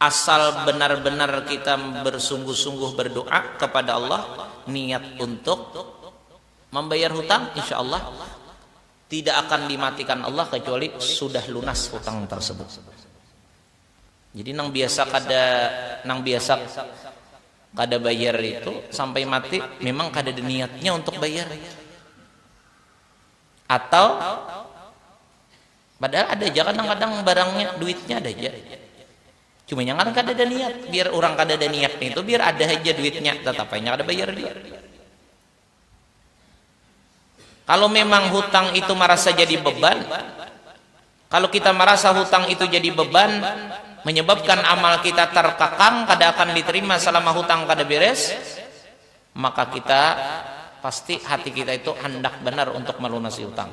asal benar-benar kita bersungguh-sungguh berdoa kepada Allah niat untuk membayar hutang insya Allah tidak akan dimatikan Allah kecuali sudah lunas hutang tersebut jadi nang biasa kada nang biasa kada bayar itu sampai mati memang kada ada niatnya untuk bayar atau. Padahal ada ja kadang-kadang barangnya, duitnya ada ja. Cuma inya ngaran kadada niat. Biar urang kadada niat nitu, biar ada haja duitnya, tatap ai inya kada bayar jua. Kalu memang hutang itu marasa jadi beban, kalu kita marasa hutang itu jadi beban, menyebabkan amal kita terkekang, kada akan diterima selama hutang kada beres, maka kita pasti hati kita itu handak banar untuk melunasi hutang.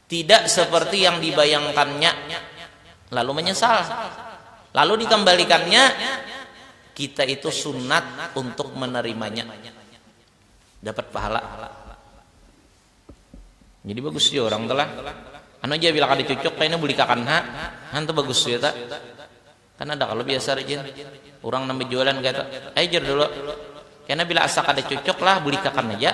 Tidak seperti yang dibayangkannya, lalu menyesal, lalu dikembalikannya, kita itu sunat untuk menerimanya. Dapat pahala. Jadi bagus jua urang tu lah. Anu ja bila kada cucuk kayanya bulikakan ha. Anu tu bagus jua ta. Kan ada kalo biasa rajin urang nang bajualan kayatu, ai jar dulu. Kena bila asa kada cucuk lah bulikakan aja.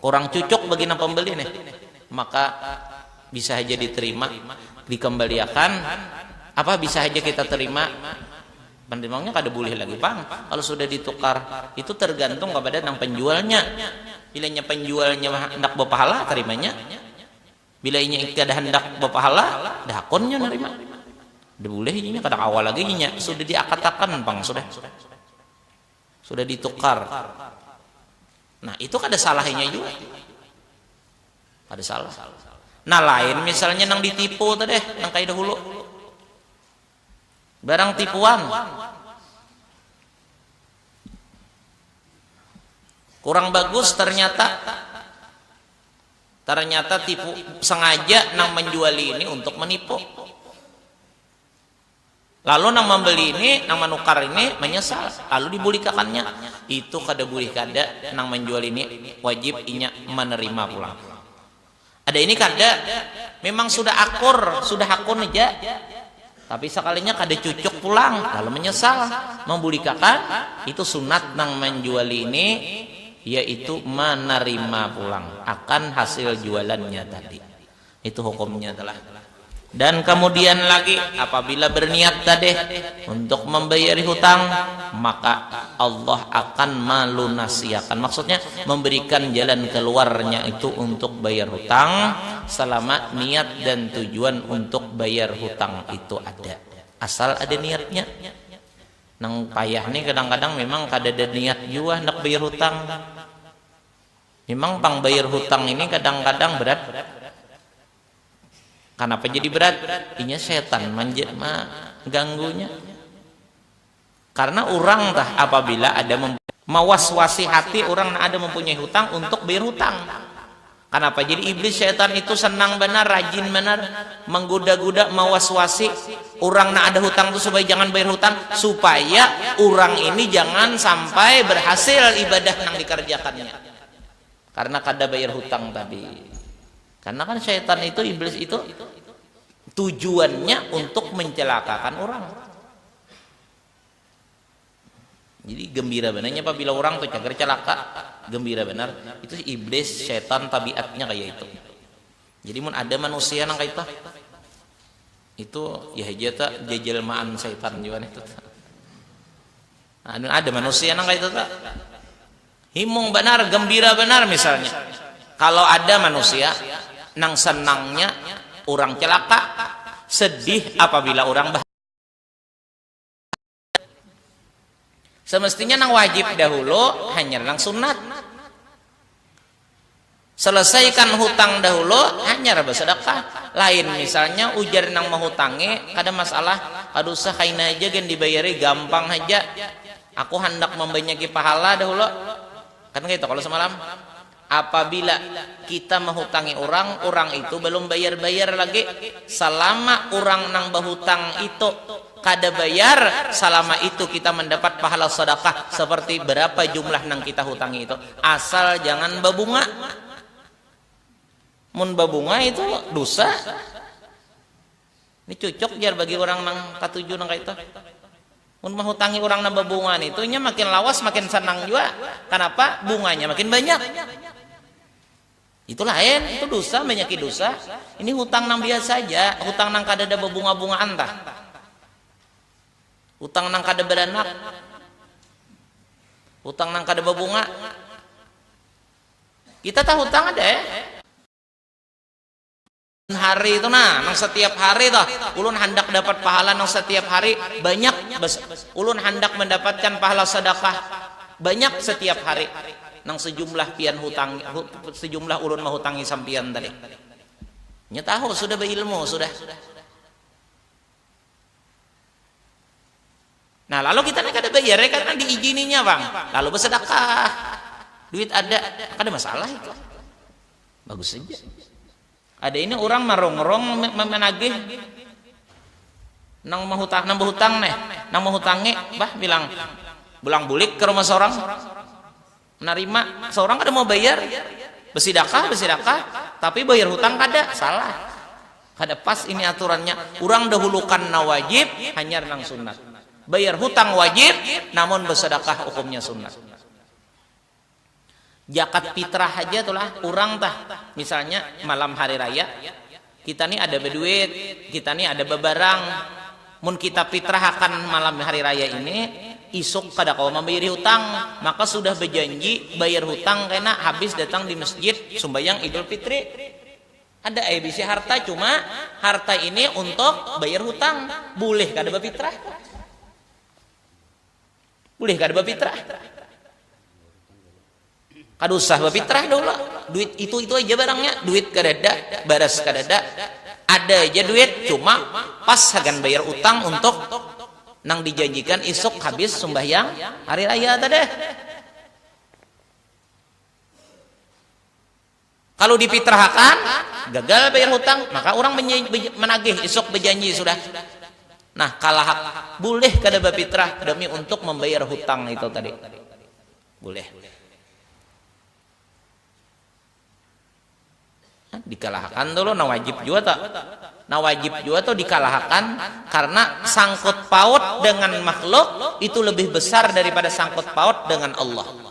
Kurang cucuk bagina pambeli nih, maka bisa haja diterima, dikambaliakan, apa bisa haja kita terima, penerimaunya kada bulih lagi pang kalo sudah ditukar, itu tergantung kapada nang penjualnya, bila inya penjualnya handak bapahala tarimanya, bila inya kada handak bapahala kada hakun inya narima, kada bulih inya, kada kawa lagi inya, sudah diakatakan pang sudah. Sudah ditukar. Nah, itu kada salahnya juga. Kada salah. Nah, lain misalnya nang ditipu tadi, nang kaya dahulu. Barang tipuan. Kurang bagus ternyata ternyata tipu sengaja nang menjual ini untuk menipu. Lalu nang mambeli ini, nang manukar ini manyesal lalu dibulikakannya. Itu kada bulih kada nang manjual ini wajib inya manerima pulang. Ada ini kada, mimang sudah akur, sudah hakun haja. Tapi sakalinya kada cucuk pulang lalu manyesal mambulikakan, itu sunat nang manjuali ini yaitu manarima pulang akan hasil jualannya tadi. Itu hukumnya telah. Dan kemudian lagi apabila berniat tadi untuk membayari hutang maka Allah akan malunasiakan maksudnya memberikan jalan keluarnya itu untuk bayar hutang selama niat dan tujuan untuk bayar hutang itu ada asal ada niatnya nang payah ni kadang-kadang memang kadada niat jua handak bayar hutang. Mimang pang bayar hutang ini kadang-kadang berat. Kanapa jadi berat? Inya setan mangganggunya. Karena urang tah apabila ada mawaswasi hati urang nang ada mampunyai hutang untuk bayar hutang. Kanapa jadi iblis setan itu senang banar, rajin banar mangguda-guda, mawaswasi Urang nang ada hutang tu supaya jangan bayar hutang, supaya urang ini jangan sampai berhasil ibadah nang dikarjakannya karena kada bayar hutang tadi. Karena kan syaitan itu, iblis itu tujuannya untuk mencelakakan urang. Jadi gembira benarnya apabila orang tu cagar calaka, gembira benar. Itu iblis, setan tabiatnya kaya itu. Jadi mun ada manusia nang kaitu itu ya haja ta jajelmaan setan jua itu ta. Nah, anu ada manusia nang kaitu ta. Himung benar, gembira benar misalnya. Kalau ada manusia nang senangnya orang celaka, sedih apabila orang bahagia. Semestinya nang wajib dahulu, hanyar nang sunat. Selesaikan hutang dahulu, hanyar basadakah. Lain misalnya ujar nang mahutangi, kada masalah, kada usah kaina haja gin dibayari, gampang haja. Aku handak mambanyaki pahala dahulu. Kan kaya itu kalu samalam. Apabila kita mahutangi urang, urang itu balum bayar-bayar lagi, salama urang nang bahutang itu kada bayar, salama itu kita mandapat pahala sadakah saparti barapa jumlah nang kita hutangi itu, asal jangan babunga. Mun babunga itu dusa. Ni cucuk jar bagi urang nang katuju nang kaitu. Mun mahutangi urang nang babunga nitu inya makin lawas makin sanang jua. Kanapa? Bunganya makin banyak. Itu lain, itu dusa banyaki dusa. Ini hutang nang biasa haja, hutang nang kadada babunga-bungaan tah. Hutang nang kada baranak, hutang nang kada babunga. Kita tahutang ada. hari tu nah nang satiap hari tuh ulun handak dapat pahala nang satiap hari banyak ulun handak mandapatkan pahala sadakah banyak satiap hari nang sejumlah pian hutangi sejumlah ulun mahutangi sampian tadi nya tahu sudah bailmu sudah. Nah, lalu kita nih kada bayar ya karena diijininya pang. Lalu besedekah. Duit ada, kada masalah itu. Bagus saja. Ada ini orang marungrung menagih nang mahutang nang bahutang nih, nang mahutangi bah bilang bulang bulik ke rumah seorang Menarima, seorang kada mau bayar, besidakah besidakah tapi bayar hutang kada, salah, kada pas ini aturannya, urang dahulukan nang wajib hanyar nang sunat, bayar hutang wajib namun besedakah hukumnya sunat. Jakat pitrah haja tu lah urang tah misalnya malam hari raya. Kita ni ada baduit, kita ni ada babarang, mun kita pitrahakan malam hari raya ini, isuk kada kawa mambayari hutang, maka sudah bajanji bayar hutang kena habis datang di masjid sumbayang idul fitri. Ada ai bisi harta cuma harta ini untuk bayar hutang, bulih kada bapitrah. Bulih kada bapitrah. Kada usah bapitrah daulah. Duit itu-itu aja barangnya. Duit kadada, baras kadada. Ada aja duit, cuma pas hagan bayar utang untuk nang dijanjikan isuk habis sumbahyang hari raya tadi. Kalu dipitrahakan, gagal bayar hutang, maka urang managih isuk bajanji sudah. Nah, kalahak bulih kada bapitrah demi untuk mambayar hutang itu tadi. Bulih. Nah, dikalahakan tu lo nah wajib jua tu. Nah, wajib jua tu dikalahakan karena sangkut paut dengan makhluk itu lebih besar daripada sangkut paut dengan Allah.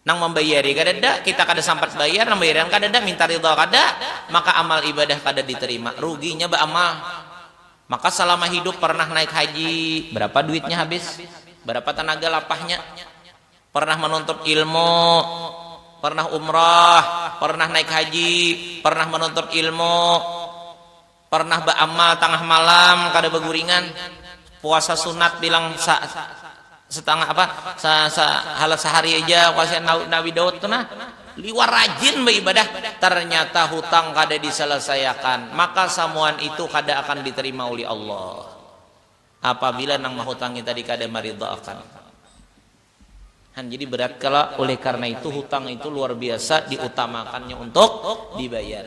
Nang mambayari kadada, kita kada sampat bayar, nang bayarian kadada, minta ridha kada, maka amal ibadah kada diterima. Ruginya baamal. Maka salama hidup pernah naik haji, berapa duitnya habis? Berapa tenaga lapahnya? Pernah menuntut ilmu, pernah umrah, pernah naik haji, pernah menuntut ilmu, Pernah ba'amal tangah malam kada baguringan, puasa sunat bilang sa setangah apa sa sa halat sahari haja kuasa Nabi Daud tu nah, liwar rajin baibadah, ternyata hutang kada diselesaiakan, maka samuan itu kada akan diterima ulih Allah apabila nang mahutangi tadi kada maridaakan. Han jadi berat kalo oleh karena itu hutang itu luar biasa diutamakannya untuk dibayar.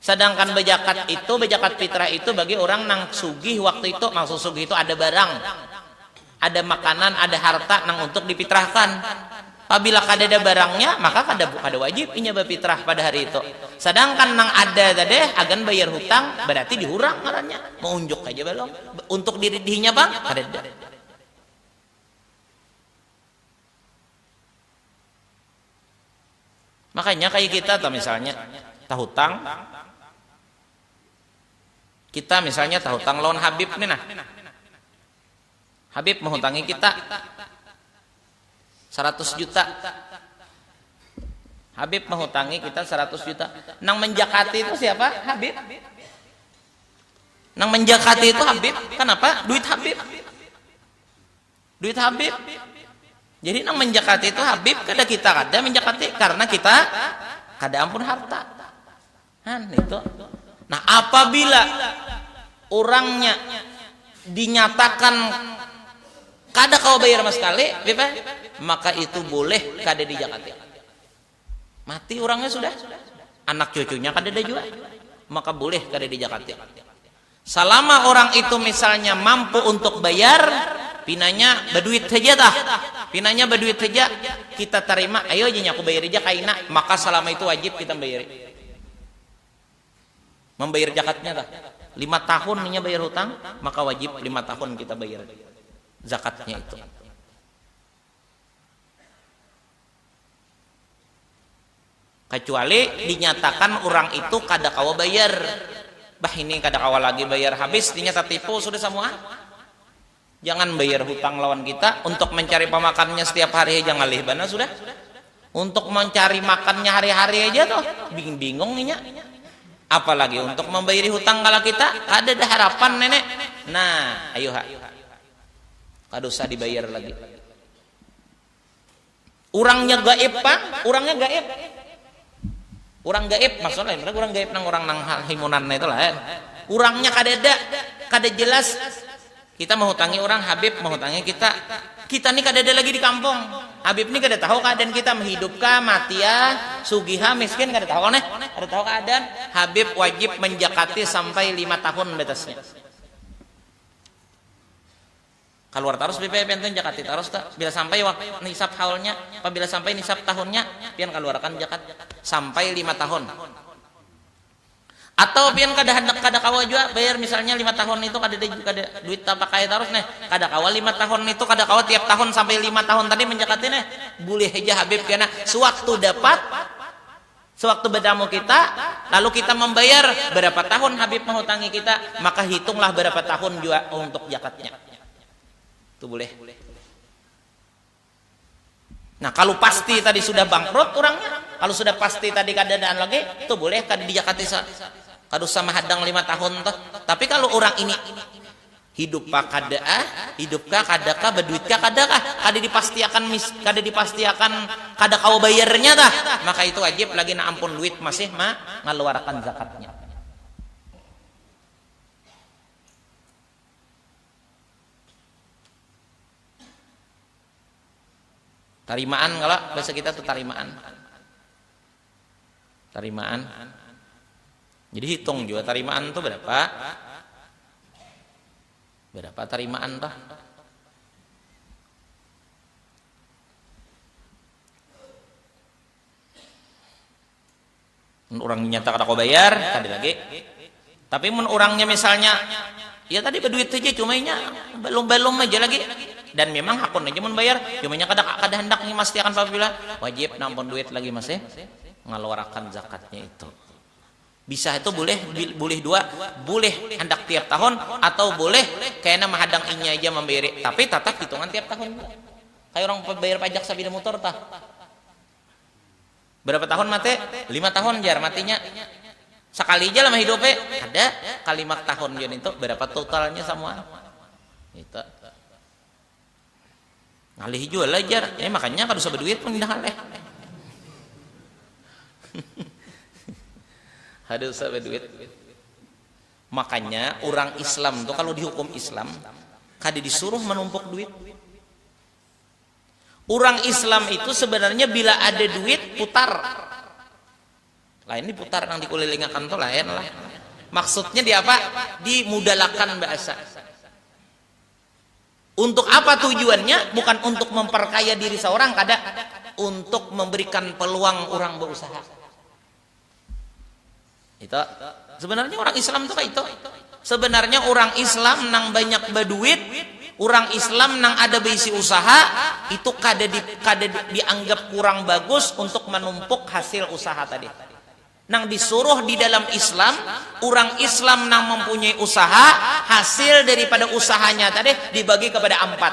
Sadangkan bajakat itu, bajakat fitrah itu bagi urang nang sugih waktu itu, maksud sugih itu ada barang, ada makanan, ada harta nang untuk difitrahkan. Pabila kadada barangnya, maka kada kada wajib inya bafitrah pada hari itu. Sadangkan nang ada tadi agan bayar hutang, bararti dihurang ngarannya, maunjuk haja balum. Untuk diri dihinya pang kadada. Makanya kayak kita tuh misalnya tahutang kita misalnya tahutang lawan Habib nih nah. Habib menghutangi kita 100 juta. Habib menghutangi kita 100 juta. Nang menjakati itu siapa? Habib. Nang menjakati itu Habib. Kenapa? Duit Habib. Duit Habib. Jadi nang menjakati itu Habib kada kita kada menjakati karena kita kada ampun harta. Nah, itu. Nah, apabila orangnya dinyatakan kada kawa bayar sama sekali, maka itu boleh kada dijakati. Mati urangnya sudah. Anak cucunya kadada jua. Maka bulih kada di jakatin. Salama urang itu misalnya mampu untuk bayar, pinanya baduit haja tah. Pinanya baduit haja, kita tarima, ayo haja nya kubayari ja kaina. Maka salama itu wajib kita membayari. Membayar jakatnya tah. Lima tahun inya bayar hutang, maka wajib lima tahun kita bayar zakatnya itu. Kacuali dinyatakan urang itu kada kawa bayar, bah ini kada kawa lagi bayar habis inya tatipu sudah samua, jangan bayar hutang lawan kita, untuk mancari pamakannya setiap hari haja ngalih banar sudah, untuk mancari makannya hari-hari haja tuh bingung inya, apalagi untuk mambayari hutang kala kita, kadada harapan ini, nah ayuha kada usah dibayar lagi. Urangnya gaib pang, urangnya gaib. Urang gaib maksudnya lain urang gaib nang urang nang himunan itu lain. Urangnya kadada, kada jelas. Kita mahutangi urang, Habib mahutangi kita. Kita ni kadada lagi di kampung. Habib ni kada tahu keadaan kita, hidup kah, mati ah, sugih ha, miskin, kada tahu nih. Kada tahu keadaan. Habib wajib menjakati sampai lima tahun batasnya. Kaluar tarus bph pian tuh jakat ti tarus tuh bila sampai wak nisab haulnya pabila sampai nisab tahunnya pian kaluarakan jakat sampai lima tahun atau pian kada handak kada kawa jua bayar misalnya lima tahun nitu kadada kada duit tapakai tarus neh kada kawa lima tahun nitu kada kawa tiap tahun sampai lima tahun tadi manjakati neh bulih haja habib kena sewaktu dapat. Sewaktu betamu kita, lalu kita mambayar, berapa tahun Habib mahutangi kita, maka hitunglah berapa tahun jua untuk jakatnya. Itu bulih. Nah, kalu pasti tadi sudah bangkrut urangnya, kalu sudah pasti tadi kadadaan lagi, itu bulih kada dijakati sa, kada usah mahadang lima tahun tuh. Tapi kalu urang ini. Hidup ka kada ah, hidup ka kada ka, baduit ka kada kah, kada dipastiakan mis, kada dipastiakan kada kawa bayarnya tah, maka itu wajib lagi nang ampun luit masih ma ngaluarakan zakatnya. Tarimaan kalo bahasa kita tu tarimaan. Tarimaan. Jadi hitung juga tarimaan tuh berapa. Berapa tarimaan tuh. Orang nyata kada kau bayar, tadi lagi. Tapi mun urangnya misalnya ya tadi baduit haja cuma inya balum-balum haja lagi dan memang hakun haja mun bayar cuma inya kada kada handak memastiakan pabila wajib nah ampun duit lagi masih ngaluarakan zakatnya itu. Bisa itu bulih bulih dua bulih handak tiap tahun atau bulih kena mahadang inya haja mambayari tapi tatap hitungan tiap tahun jua. Kaya urang bayar pajak sapida mutur tah. Barapa tahun mate? Lima tahun jar matinya. Sakali ja lah mahidupe? Kada, kalimak tahun jua nintu, barapa totalnya samua? Nintu. Ngalih jua lah jar, eh makanya kada usah baduit pang indah ngalih. kada usah baduit. Makanya urang Islam tu kalu dihukum Islam kada disuruh manumpuk duit. Urang Islam itu sebenarnya bila ada duit putar. Lain di putar nang dikulilingakan tu lain lah. Maksudnya di apa? Dimudalakan bahasa. Untuk apa tujuannya? Bukan untuk memperkaya diri seorang kada. Untuk memberikan peluang urang beusaha. Itu. Sebenarnya orang Islam itu kayak itu. Sebenarnya orang Islam nang banyak berduit, orang Islam nang ada berisi usaha, itu kada di, kada dianggap kurang bagus untuk menumpuk hasil usaha tadi. Nang disuruh di dalam Islam, orang Islam nang mempunyai usaha, hasil daripada usahanya tadi dibagi kepada ampat.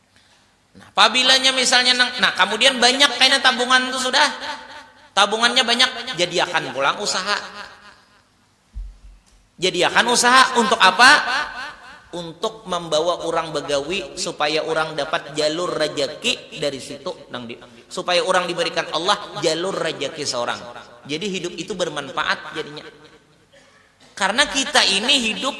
Nah, pabilanya misalnya nang, nah kemudian banyak kayaknya tabungan itu sudah, tabungannya banyak, jadiakan pulang usaha. Jadiakan usaha untuk apa? Untuk membawa orang begawi supaya orang dapat jalur rejeki dari situ nang di, supaya orang diberikan Allah jalur rejeki seorang. Jadi hidup itu bermanfaat jadinya. Karena kita ini hidup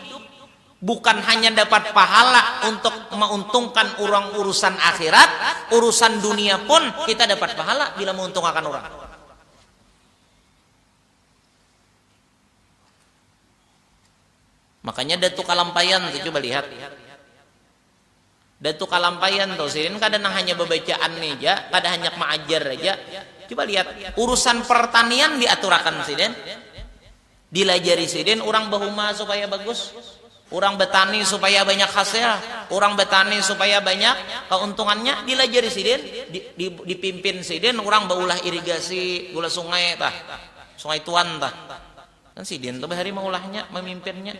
bukan hanya dapat pahala untuk mauntungkan urang urusan akhirat, urusan dunia pun kita dapat pahala bila mauntungakan urang. Makanya ada tu kalampaian tu coba lihat. Dah tu kalampaian tu, sidin kada nang hanya babacaan ni ja, kada hanyak maajar haja. Cuba lihat, urusan pertanian diaturakan sidin, dilajari sidin urang bahuma supaya bagus, urang batani supaya banyak hasil, urang batani supaya banyak kauntungannya, dilajari sidin, dipimpin sidin urang baulah irigasi, baulah sungai tah, sungai tuan tah. Kan sidin tu bahari maulahnya, mamimpinnya.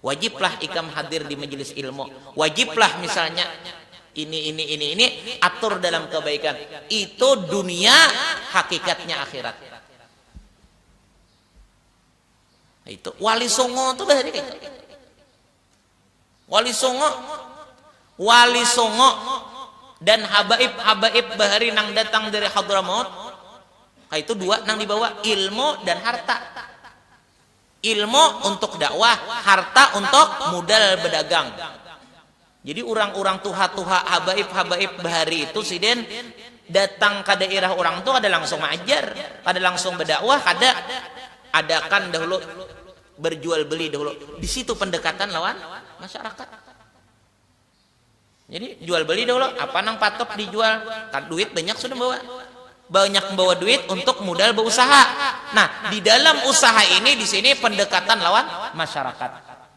Wajiblah ikam hadir di majelis ilmu, wajiblah misalnya ini ini ini ini, atur dalam kebaikan, itu dunia hakikatnya akhirat. Itu wali songo tuh bahari kaitu. Wali songo, wali songo dan habaib habaib bahari nang datang dari Hadramaut, kaitu dua nang dibawa ilmu dan harta. Ilmu untuk dakwah, harta untuk mudal badagang. Jadi urang-urang tuha-tuha, habaib-habaib bahari itu sidin datang ka dairah urang tu kada langsung maajar, kada langsung badakwah, kada. Adakan dahulu berjual beli dahulu. Di situ pendekatan lawan masyarakat. Jadi jual beli dulu apa nang patut dijual. Kan duit banyak sudah bawa. Banyak membawa duit untuk modal bausaha. Nah, di dalam usaha ini di sini pendekatan lawan masyarakat.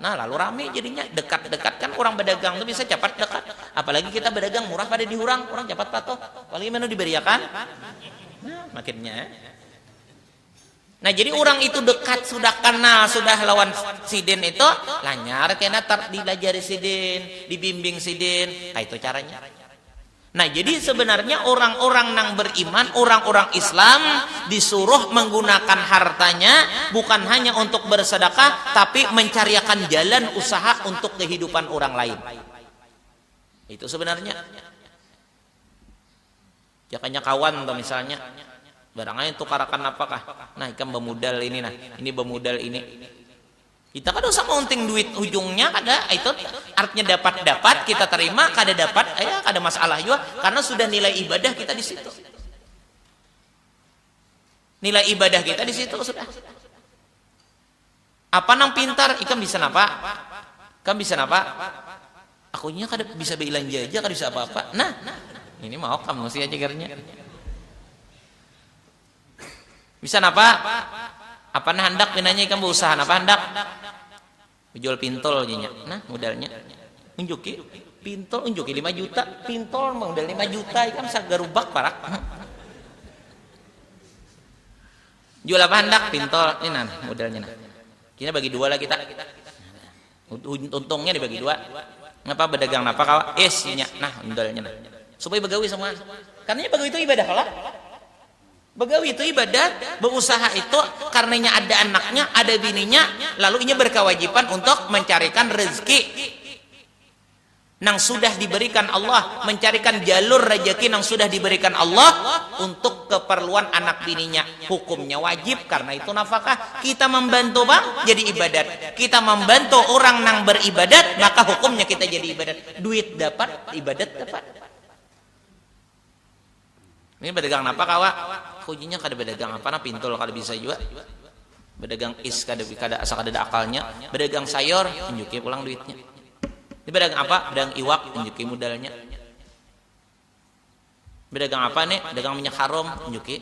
Nah, lalu rami jadinya. Dekat-dekat kan urang badagang tu biasa capat dekat. Apalagi kita badagang murah kada di hurang, urang capat patuh. Apalagi manu dibariakan. Nah, makinnya. Nah jadi urang itu dekat sudah kanal sudah lawan sidin itu lanyar kena tar dilajari sidin, dibimbing sidin, kaitu caranya. Nah jadi sebenarnya urang-urang nang beriman, urang-urang Islam disuruh menggunakan hartanya bukan hanya untuk bersedekah tapi mencariakan jalan usaha untuk kehidupan urang lain. Itu sebenarnya. Jakanya kawan tuh misalnya, barang aja tukarakan napa kah, nah ikam bamudal ini nah, ini bamudal ini. Kita kada usah maunting duit hujungnya kada, itu artnya dapat dapat kita tarima, kada dapat ya kada masalah jua karena sudah nilai ibadah kita di situ. Nilai ibadah kita di situ sudah. Apa nang pintar, ikam bisa napa? Ikam bisa napa? Aku nya kada bisa bailanja aja, kada bisa apa-apa. Nah, ini maok kamu sia cagarnya. Bisa napa? Apa nah handak pinanya ikam bausaha napa handak? Bajual pintol ja nya. Nah, modalnya. Unjuki, pintol unjuki lima juta. Pintol modal lima juta, ikam sagarubak parak. Jual apa handak? Pintol. Ini nah modelnya nah. Kini bagi dua lah kita. Untungnya dibagi dua. Ngapa berdagang napa kawa? Is, inya. Nah, modelnya nah. Supaya begawi semua. Karena begawi itu ibadah lah. Begawi itu ibadah, berusaha itu karenanya ada anaknya, ada bininya, lalu inya berkewajiban untuk mencarikan rezeki. nang sudah diberikan Allah, mencarikan jalur rejeki nang sudah diberikan Allah untuk keperluan anak bininya, hukumnya wajib karena itu nafakah. Kita mambantu pang jadi ibadat, kita mambantu urang nang beribadat maka hukumnya kita jadi ibadat, duit dapat, ibadat dapat. Ini badagang napa kawa? Hujinya kada badagang apa nah pintul kada bisa jua. Badagang is kada kada asa kadada akalnya. Badagang sayor, tunjuki pulang duitnya. Ini badagang apa? Badagang iwak, tunjuki mudalnya. Badagang apa ni? Dagang minyak harum, tunjuki.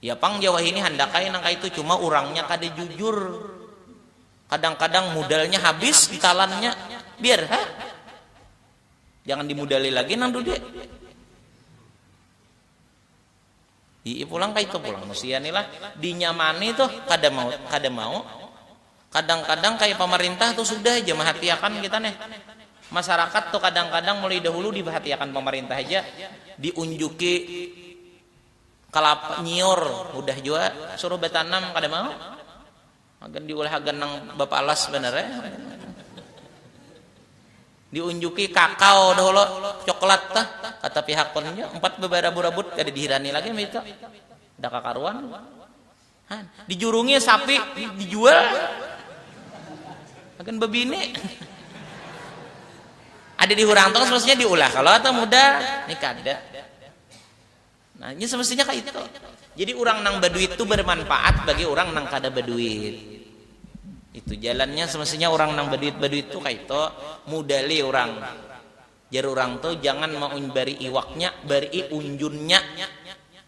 Ya pang ja wahini handak ai nang kaitu, cuma urangnya kada jujur. Kadang-kadang mudalnya habis ntalannya, biar ha. Jangan dimudali lagi nang dude. Hi'i pulang kaitu pulang musia ni lah, dinyamani tuh kada mau kada mau. Kadang-kadang kaya pamarintah tuh sudah ja mahatiakan kita neh. Masarakat tuh kadang-kadang mulai dahulu dipahatiakan pamarintah haja, diunjuki. Kalapa nyiur hudah jua suruh batanam kada mau hagan diulah hagan nang bapalas banar ai diunjuki kakao dahulu coklat tuh kata pihak pun jua umpat babarabut-rabut kada dihirani lagi imbah itu kada kakaruan han dijurungi sapi dijual hagan babini ada dihurang tu maksudnya diulah kalo atau mudah ni kada. Nah, ini semestinya kayak itu. Jadi orang nang berduit itu bermanfaat bagi orang nang kada berduit. Itu jalannya semestinya orang nang berduit-berduit itu kayak itu mudali orang. Jar orang tuh jangan mengunbari iwaknya, beri unjunnya.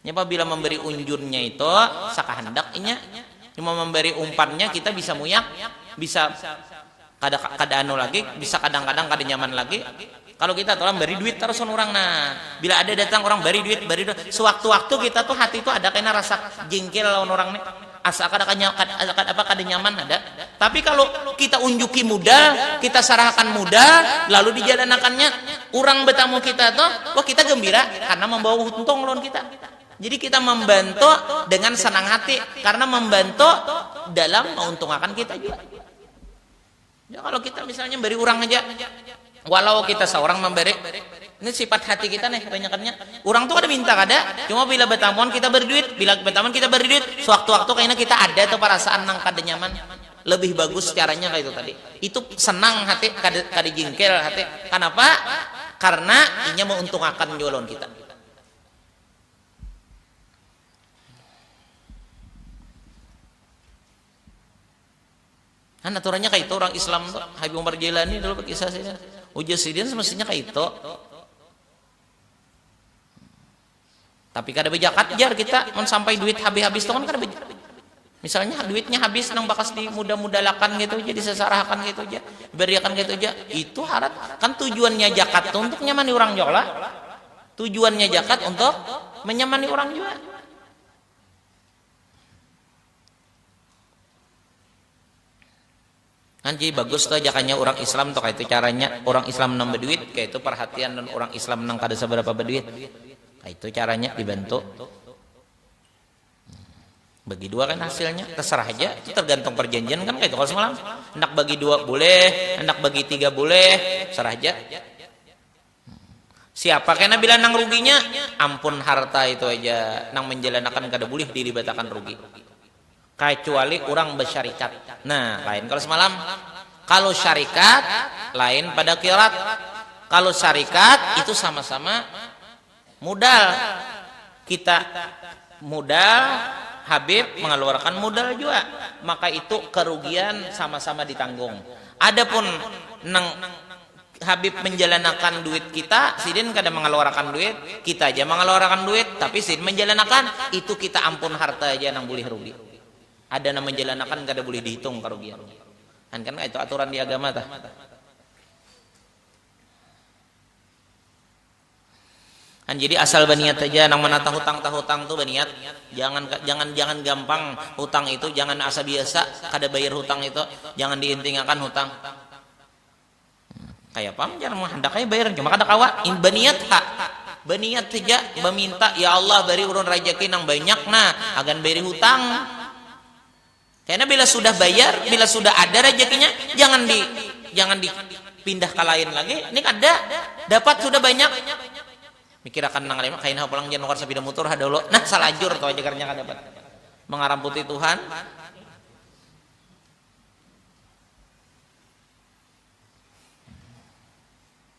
Ini apabila memberi unjunnya itu sakahandak inya. Cuma memberi umpannya kita bisa muyak, bisa kada kada anu lagi bisa kadang kadang kada nyaman lagi kalu kita tu lah bari duit tarus wan urang nah bila ada datang urang bari duit bari duit sewaktu waktu kita tu hati tu ada kena rasa jingkil lawan urang ni asa kada apa kada nyaman ada tapi kalu kita unjuki muda kita sarahakan muda lalu di jalan akan nya urang betamu kita tu wah kita gembira karna membawa untung lawan kita jadi kita membantu dengan senang hati karna membantu dalam meuntung akan kita jua. Ya, kalau kita misalnya memberi orang aja, walau kita seorang memberi, ini sifat hati kita nih kebanyakannya. Orang tuh kada minta kada, cuma bila betamuan kita beri duit, bila betamuan kita beri duit, sewaktu-waktu kayaknya kita ada tuh perasaan nang kada nyaman, lebih bagus caranya kaya itu tadi. Itu senang hati, kada kada jingkil hati. Kanapa? Karena inya meuntungakan jua lawan kita. Kan aturannya kaitu urang Islam tu, Habib Umar Jailani dulu bakisah sidin. Ujar sidin semestinya kaitu. Tapi kada bajakat jar kita, mun sampai duit habis-habis tu kan kada bajakat. Misalnya duitnya habis nang bakas di muda-mudalakan kaitu ja, disasarahakan kaitu ja, dibariakan kaitu ja, itu harat. Kan tujuannya jakat tu untuk nyamani urang jua kalo? Tujuannya jakat untuk menyamani urang jua. Anji bagus tuh ajakannya urang islam tuh kaitu caranya urang islam nang baduit kaitu parhatian lawan urang islam nang kada sabarapa baduit kaitu caranya dibantu bagi dua kan hasilnya tasarah haja itu targantung parjanjian kan kaitu kalo samalam handak bagi dua buleh handak bagi tiga buleh tasarah haja. Siapa kena bila nang ruginya? Ampun harta itu haja nang manjalanakan kada bulih dilibatakan rugi. Kacuali urang basyarikat. Nah, lain kalu samalam. Kalu syarikat, lain pada qirat. Kalu syarikat, itu sama-sama. Mudal kita mudal Habib mengeluarkan mudal jua maka itu kerugian sama-sama ditanggung adapun nang Habib menjalanakan duit kita sidin kada mengeluarakan duit kita ja mengeluarakan duit tapi sidin menjalanakan itu kita ampun harta ja nang bulih rugi ada nang menjalanakan kada bulih dihitung karugiannya kan kan kaitu aturan di agama tah. Kan jadi asal baniat haja nang manata hutang tahutang tu baniat jangan jangan jangan gampang hutang itu jangan asa biasa kada bayar hutang itu jangan diintingakan hutang kaya pang jar mun handak ai bayar cuma kada kawa baniat ha baniat haja baminta ya Allah bari ulun rajaki nang banyak nah agan bayari hutang. Kena bila sudah bayar, bila sudah ada rajakinya, jangan di jangan di pindah ka lain lagi, ini kada, dapat sudah banyak, mikir akan nang lima, kaina pulang jar nukar sapida mutur ha dahulu, nah salajur tu aja garnya kada dapat, mangaramputi Tuhan.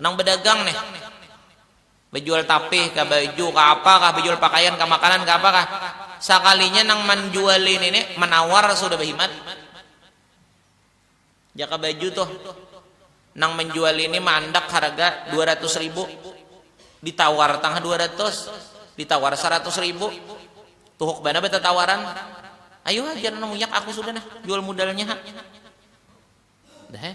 Nang bedagang nih, bejual tapih kah, baju kah, apa kah, bejual pakaian kah, makanan kah, apa kah, sakalinya nang manjuali ini nih menawar sudah behimat. Jaka baju tuh, nang menjual ini meandak harga dua ratus ribu, ditawar tangah dua ratus, ditawar saratus ribu, tuhuk banar betatawaran, ayu ha jar nang munyak aku sudah nah jual mudalnya ha. Deh.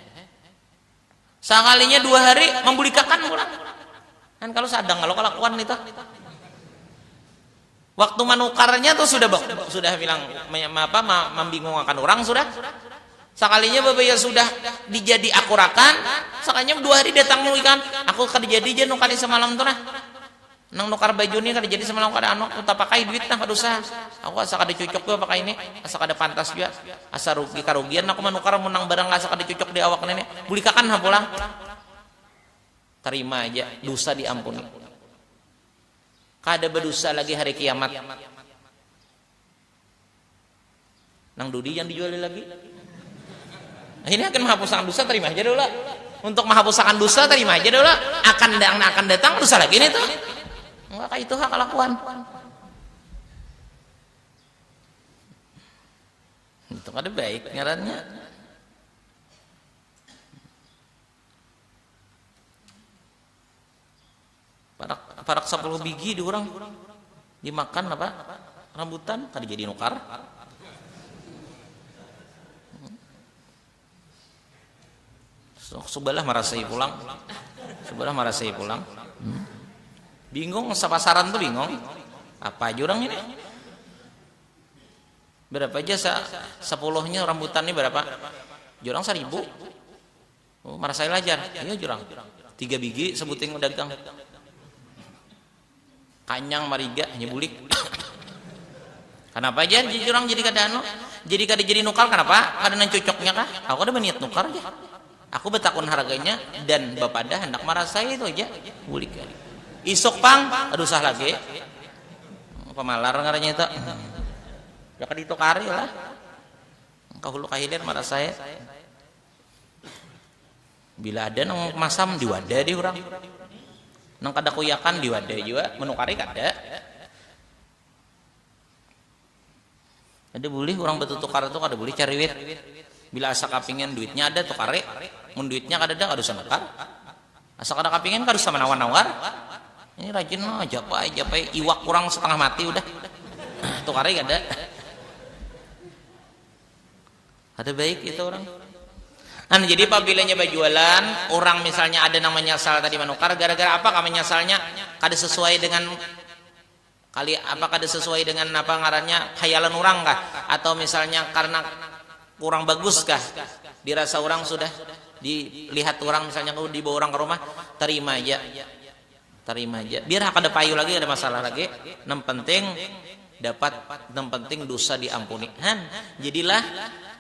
Sakalinya dua hari membulikakan pulang. Kan kalau sadang kalau kelakuan itu. Waktu manukarnya tuh sudah sudah bilang apa membingungkan orang sudah. Sakalinya babaya sudah dijadi akurakan, sakalinya dua hari datang nulikan, aku kada jadi jar nukari semalam tuh nah. Nang nukar baju ni kada jadi samalam kada anu aku tapakai duit nah kada usah aku asa kada cucuk jua pakai ni asa kada pantas jua asa rugi karugian aku manukar mun nang barang asa kada cucuk di awak ni bulikakan ha pulang tarima aja dusa di ampuni kada badusa lagi hari kiamat. Nang dudi jangan dijuali lagi. Nah, ini akan menghapusakan dosa terima aja dulu. Untuk menghapusakan dosa terima aja dulu. Akan yang akan datang dosa lagi nih tuh. Enggak kayak itu hak kelakuan. Itu ada baik ngarannya. Parak parak sapuluh bigi diurang dimakan apa rambutan kada jadi nukar. Subalah marasai pulang. Subalah marasai pulang. Hmm. Bingung sapasaran tuh bingung. Apa aja orang ini? Berapa aja sa sepuluhnya rambutan ini berapa? Jurang seribu. Oh, marasai lajar. Iya jurang. Tiga bigi sebuting dagang. Kanyang mariga hanya bulik. kenapa aja jurang jadi kada anu? Jadi kada jadi nukar kenapa? Kada nang cocoknya kah? Aku kada baniat nukar aja. Aku betakun harganya dan bapada handak marasai itu aja. Bulik kali. Isuk pang, ada usah lagi. Pemalar ngarannya itu. Ya kada ditukari lah. Kahulu kahilir marasai. Bila ada nang masam diwada di urang. Nang kada kuyakan diwada jua, manukari kada. Kada bulih urang batutukar tu kada bulih cariwit. Bila asa kapingin duitnya ada tukari, mun duitnya kadada kada usah nukar. Asa kada kapingin kada usah manawar-nawar. Ini rajin lo japai japai iwak urang satangah mati udah tukari kada. Kada baik itu urang. Anu jadi pabila inya bajualan, urang misalnya ada nang manyasal tadi manukar, gara-gara apa kah manyasalnya? Kada sesuai dengan kali apa kada sesuai dengan apa ngarannya khayalan urang kah? Atau misalnya karena kurang bagus kah dirasa urang sudah dilihat urang misalnya dibawa urang ka rumah, tarima ja. Tarima haja. Biar ha kada payu lagi, kada masalah lagi. Nang penting dapat, nang penting dusa diampuni. Han. Jadilah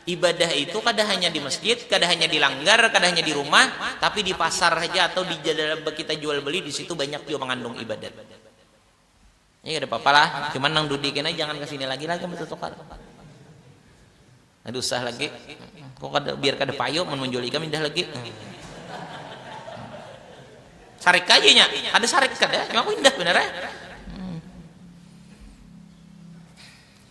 ibadah itu kada hanya di masjid, kada hanya di langgar, kada hanya di rumah, tapi di pasar haja atau di kita jual beli di situ banyak jua mangandung ibadat. Nya kada papa lah, cuman nang dudi kena jangan kesini lagi lah ikam tutukar. Kada usah lagi, ko kada biar kada payu mun manjual ikam indah lagi. Sarik aja nya, kada sarik kada, cuma aku indah banar eh.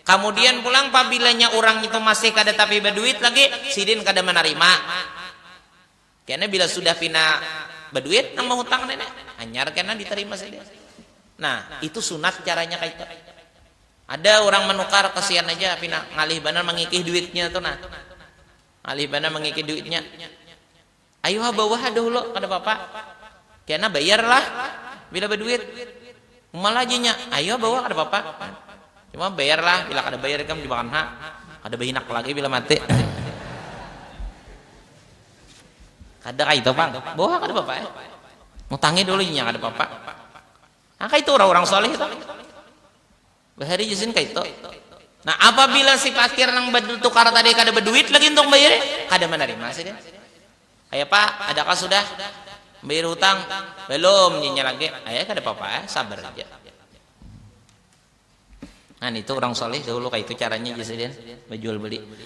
Kamudian pulang pabilanya urang itu masih kada tapi baduit lagi, sidin kada manarima. Kena bila sudah pina baduit nang mahutang nini, hanyar kena ditarima sidin. Nah, itu sunat caranya kaitu. Ada urang manukar, kasian aja pina ngalih banar mangikih duitnya tu nah. Ngalih banar mangikih duitnya. Ayu ha bawah ha dahulo, kada papa. Kena bayar lah bila baduit. Uma lah ajinya, ayu ha bawah kada papa. Cuma bayar lah, bila kada bayar ikam dimakan ha. Kada bahinak lagi bila mati. Kada kaitu pang, bawah ha kada papa. Mutangi dulu inya kada papa. Ha kaitu urang-urang shalih tu. Bahari ja sin kaitu. Nah, apabila si pakir nang batukar tadi kada baduit lagi untuk membayari, kada manarima sidin. Kaya apa, adakah sudah membayar hutang? Balum jar inya lagi. Ayah kada papa ai, sabar haja. Nah, nitu urang shalih dahulu kaitu caranya jar sidin bajual beli.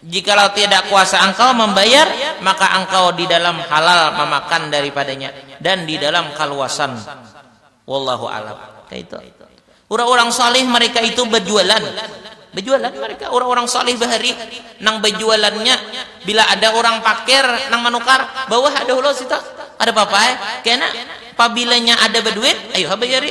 Jikalau tiada kuasa angkau mambayar, maka angkau di dalam halal mamakan daripadanya dan di dalam kaluasan. Wallahu a'lam. Kaitu. Urang-urang shalih mereka itu bajualan. Bajualan mereka, urang-urang shalih bahari nang bajualannya bila ada urang pakir nang manukar, bawah ada hulus itu, kada papa ai. Kena, pabilanya ada baduit, ayu ha bayari.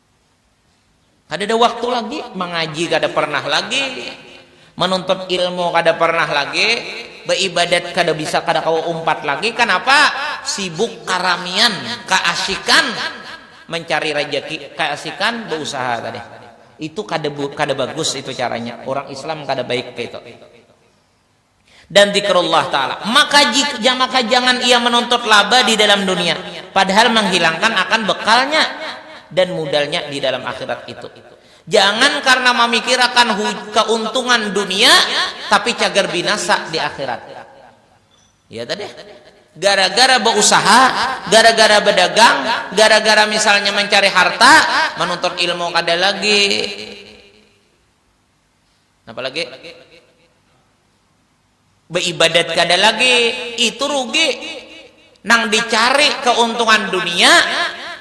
Kadada waktu lagi, mangaji kada pernah lagi, manuntut ilmu kada pernah lagi, baibadat kada bisa kada kawa umpat lagi, kanapa? Sibuk karamian, kaasikan mancari rajaki, kaasikan bausaha tadi. Itu kada kada bagus itu caranya, urang Islam kada baik kaitu. dan dzikrullah ta'ala, maka jika maka jangan ia menuntut laba di dalam dunia, padahal menghilangkan akan bekalnya dan mudalnya di dalam akhirat itu. Jangan karena mamikirakan keuntungan dunia tapi cagar binasa di akhirat. Ya tadi gara-gara beusaha, gara-gara bedagang, gara-gara misalnya mencari harta, menuntut ilmu kada lagi, Napa lagi? Beibadat kada lagi, itu rugi. Nang dicari keuntungan dunia,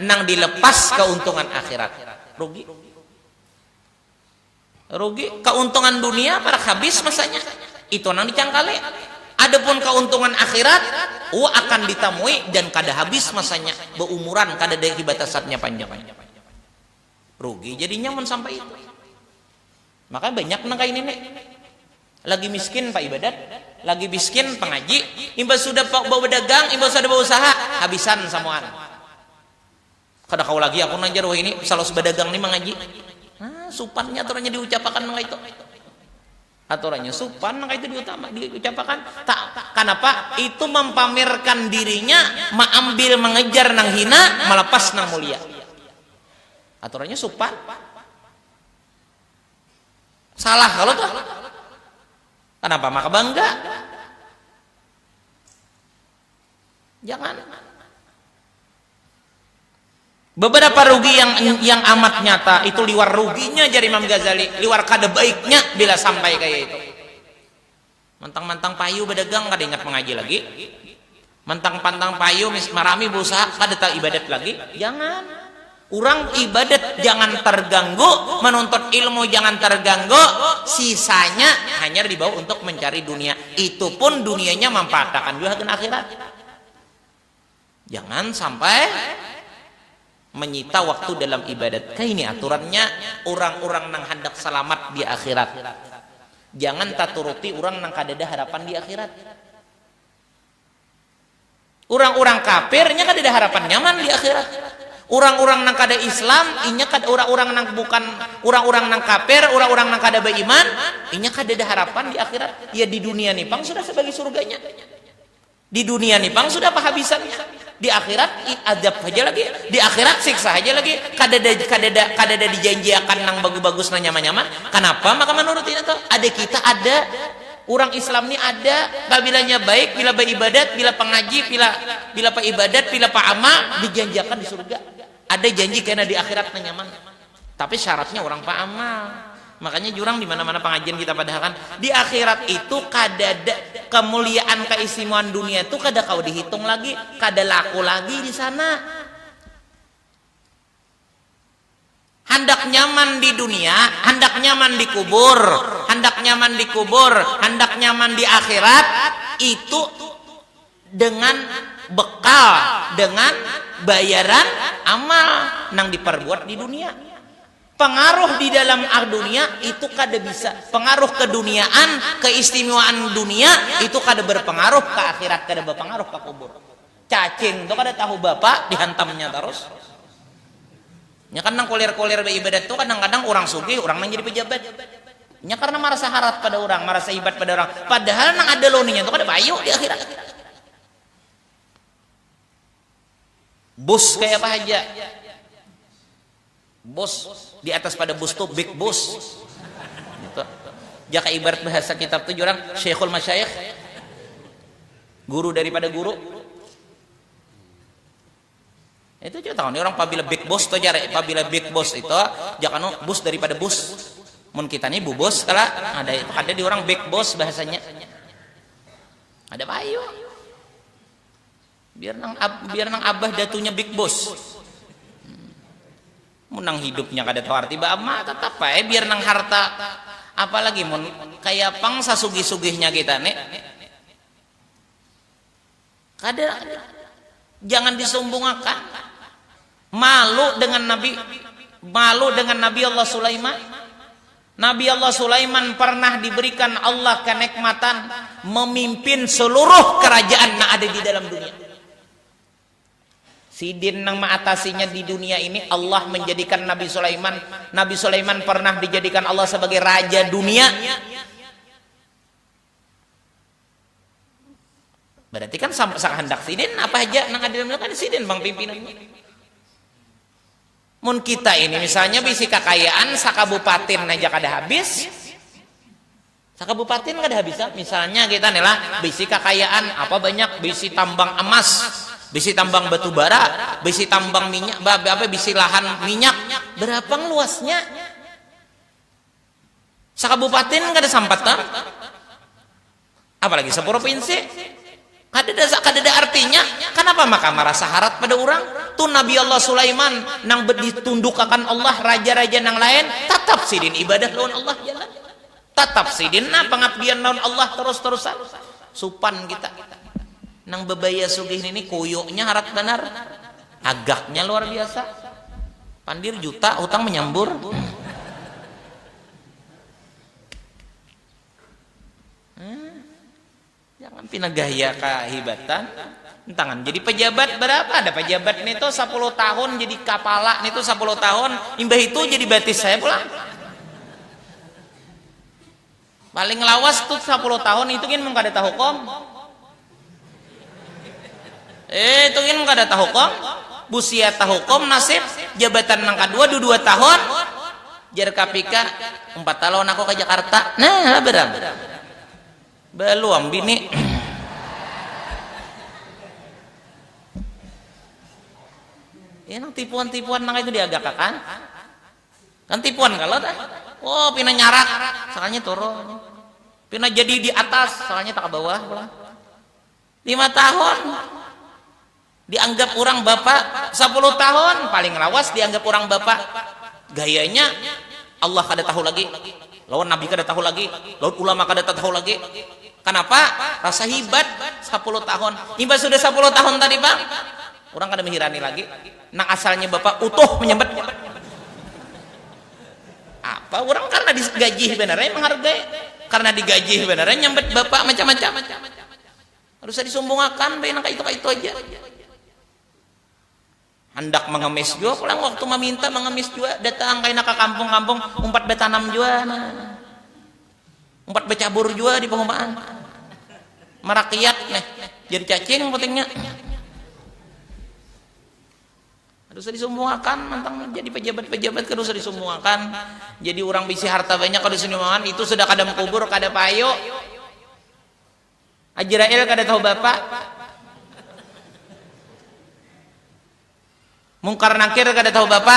nang dilepas keuntungan akhirat. Rugi. Rugi. Keuntungan dunia parak habis masanya. Itu nang dicangkali. Adapun keuntungan akhirat, u akan ditamui dan kada habis masanya. Beumuran, kada ada batasannya panjang. Rugi jadinya mun sampai itu. Makanya banyak nang kaini ni. Lagi miskin paibadat, lagi biskin pangaji, imbah sudah badagang, imbah sudah bausaha, habisan samuaan. Kada kawa lagi aku nang jar wahini, salos badagang ni mangaji. Nah, supannya tu nang diucapakan nang kaitu. Aturannya supan, maka itu diutama, diucapakan. Ta, kanapa? Itu mampamerkan dirinya, maambil, mangejar nang hina, malapas nang mulia. Aturannya supan. Salah kalo tuh. Kanapa maka bangga? Jangan. Beberapa rugi yang yang amat nyata itu liwar ruginya jari Imam Ghazali, liwar kada baiknya bila sampai kaya itu. Mantang-mantang payu badagang kada ingat mengaji lagi. Mantang-pantang payu marami berusaha kada tahu ibadat lagi. Jangan. Urang ibadat jangan targanggu, manuntut ilmu jangan targanggu, sisanya hanyar dibawa untuk mancari dunia, itu pun dunianya mampaatakan jua hagan akhirat. Jangan sampai manyita waktu dalam ibadat, kaini aturannya urang-urang nang handak salamat di akhirat. Jangan taturuti urang nang kadada harapan di akhirat. Urang-urang kafir inya kadada harapan nyaman di akhirat. Urang-urang nang kada Islam inya kada urang-urang nang bukan urang-urang nang kafir, urang-urang nang kada baiman inya kadada harapan di akhirat. Ya di dunia ni pang sudah sabagi surganya. Di dunia ni pang sudah pahabisannya. Di akhirat azab haja lagi, di akhirat siksa haja lagi. Kadada kadada kadada dijanjiakan nang bagus-bagus nang nyaman-nyaman. Kanapa maka manurut inya tu? Ada kita ada. Urang Islam ni ada babilanya baik bila baibadat, bila pangaji, pila bila paibadat, pila paama, dijanjiakan di surga. Ada janji kena di akhirat nang nyaman. Tapi syaratnya urang paamal. Makanya jurang dimana-mana pangajian kita padahakan, di akhirat itu kadada kamuliaan kaistimewaan dunia tu kada kawa dihitung lagi, kada laku lagi di sana. Handak nyaman di dunia, handak nyaman di kubur, handak nyaman di kubur, handak nyaman di akhirat, itu dengan bekal, dengan bayaran amal nang diparbuat di dunia. Pengaruh di dalam dunia itu kada bisa, pengaruh keduniaan, keistimewaan dunia itu kada berpengaruh ka akhirat, kada berpengaruh ka kubur. Cacing tu kada tahu bapa dihantamnya tarus. Nya kan nang kulir-kulir baibadat tu kadang-kadang urang sugih, urang nang jadi pajabat. Nya karna marasa harat pada urang, marasa hibat pada urang. Padahal nang ada loninya tu kada payu di akhirat. Bus kaya apa haja. Bus, di atas pada bus tu big bus. Nitu. Jaka ibarat bahasa kitab tu jar urang, syekhul masyaikh. Guru daripada guru. Itu jua tahu ni urang pabila big bus tu jar, pabila big bus itu jaka nu bus daripada bus. Mun kita ni bubus kala, ada kada di urang big bus bahasanya. Kada payu. Biar nang biar nang abah datunya big boss. Hmm. Mun nang hidupnya kada tahu arti baama tetap ae biar nang harta apalagi mun kaya pang sasugih-sugihnya kita ne kada jangan disombongakan. Malu dengan Nabi malu dengan Nabi Allah Sulaiman. Nabi Allah Sulaiman pernah diberikan Allah kenekmatan memimpin seluruh kerajaan nang ada di dalam dunia. Sidin nang meatasinya di dunia ini Allah menjadikan Nabi Sulaiman. Nabi Sulaiman pernah dijadikan Allah sebagai raja dunia. Berarti kan sama sakandak sidin apa aja nang adil kan sidin bang pimpinannya. Mun kita ini misalnya bisi kakayaan sakabupatin aja kada habis, sakabupatin kada habis ah. Misalnya kita nih lah bisi kakayaan apa banyak bisi tambang emas, bisi tambang batu bara, bisi tambang minyak, apa bisi lahan minyak, berapa luasnya? Sakabupatin kada sampat tam, apalagi sapurupinsi. Kadada kadada artinya, kanapa maka marasa harat pada urang? Tu Nabi Allah Sulaiman nang ditundukakan Allah raja-raja nang lain, tatap sidin ibadah lawan Allah ja lah. Tatap sidin nah pangabdian lawan Allah tarus-tarusan. Supan kita nang babaya sugih ini kuyunya harat banar. Hagaknya luar biasa. Pandir juta hutang menyambur. Jangan pina gaya kahibatan. Entangan jadi pejabat berapa? Ada pejabat nih tuh 10 tahun jadi kapala nih tuh 10 tahun. Imbah itu jadi batis saya pulang. Paling lawas tu sapuluh tahun itu gin mun kada tahukum. Eh itu gin kada tahukum. Busia tahukum nasib jabatan nang kadua du dua tahun. Jar Kapika, umpat ha lawan aku ka Jakarta. Nah ha berang. Baluam bini. Nang tipuan-tipuan nang kaya itu diagakakan. Kan tipuan kalo dah. Oh pina nyarak, sakalinya turun. Pina jadi di atas, sakalinya takabawah pulang. Lima tahun dianggap urang bapa, sapuluh tahun paling lawas dianggap urang bapa. Gayanya Allah kada tahu lagi, lawan Nabi kada tahu lagi, lawan ulama kada tatahu lagi. Kanapa? Rasa hibat, sapuluh tahun. Imbah sudah sapuluh tahun tadi pang, urang kada mehirani lagi. Nang asalnya bapa utuh menyambat nya. Apa urang karna di gajih banar ai menghargai. Karna di gajih banar ai nyambat bapa macam macam. Kada usah disumbungakan bae nang kaitu kaitu aja. Handak mengemis jua pulang waktu meminta mengemis jua datang kaina ke kampung kampung umpat betanam jua nah. Umpat becabur jua di pehumaan. Merakiak jar cacing putingnya. Kada usah disumbuhakan mantang jadi pajabat-pajabat kada usah disumbuhakan, jadi urang bisi harta banyak kada usah disumbuhakan itu sudah kadam kubur kada payu. Ajrail kada tahu bapa. Mungkar Nakir kada tahu bapa.